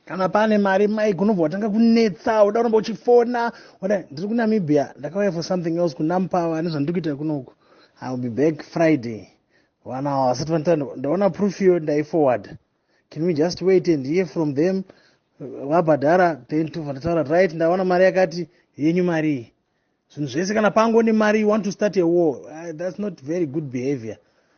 kana pane mari mike unobva watanga kunetsa uda unomba uchifona oda ndiri kunamibia ndakauya for something else kunampava ane zvandiri kuita kunoku i will be back friday vana ava vasati vanita ndaona proof iyo ndaiforward can we just wait and hear from them vabhadhara then tobva ndataura right ndaona mari yakati yenyu marii zvinhu zvese kana pango nemari you want to start a war uh, that's not very good behavior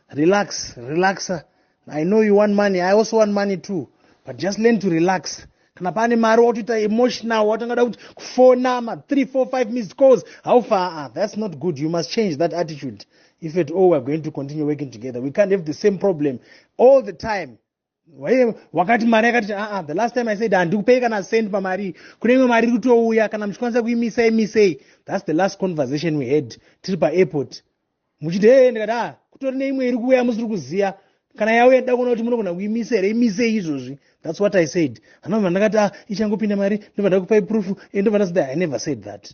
relax relaxa i know you want money i also want money too but just learn to relax kana pane mari watoita emotional watangada kuti kufona ma 3 4 5 missed calls how far ah, that's not good you must change that attitude if at all we're going to continue working together we can't have the same problem all the time waye wakati mari yakati aa ah, the last time i said handikupei kana send pamari kune imwe mari iri kutouya kana muchikwanisa kuimisa imisei thats the last conversation we had tiri paairport muchiti hee ndikati a ah, kutori neimwe iri kuuya musiri kuziva kana yauya ndida kuona kuti munogona kuimisa here imisei izvozvi thats what i said hanova ndakati a ah, ichangopinda mari ndobva ndakupai proof e ndobva ndazida i never said that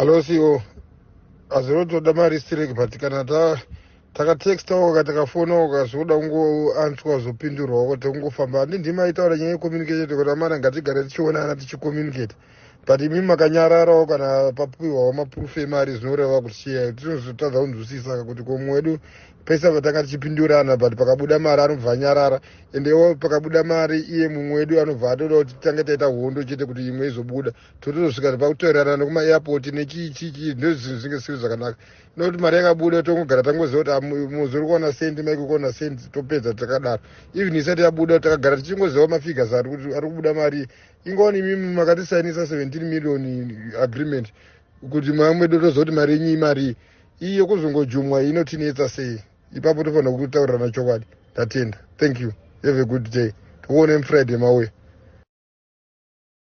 alosiwo azirotoda mari strek but kana ta takatexta oka takafona oka zvoda kungoanswa zvopindurwa oko tekungofamba handi ndima aitaura nyaya yecommunication kuti amana ngatigare tichionana tichicommunicate but imi makanyararawo kana papiwawo maproof emari zvinoreva kuti chiyai tinozotadza kunzwisisaka kuti komwe wedu pese apa tanga tichipindurana but pakabuda mari anobva anyarara ende iwo pakabuda mari iye mumwe wedu anobva atoda kuti titange taita hondo chete kuti imwe izobuda totozosvika pakutoerana nekumairport nechiichii ndozvinhu zvinge zvisiri zvakanaka nokuti mari yakabuda tongogara tangoziva kuti ah, muzi uri kuona sendi maiko kuona sendi topedza takadaro even isati yabuda takagara tichingoziva mafigures ari kubuda mari ingoni imimi makatisainisa 17 million agreement kuti mwa mwedu tozoti mari yenyu imarii iyi yekuzongojumwa inotinetsa sei ipapo tofanira kutaurirana chokwadi ndatenda thank you have a good day tikuone mufriday mauya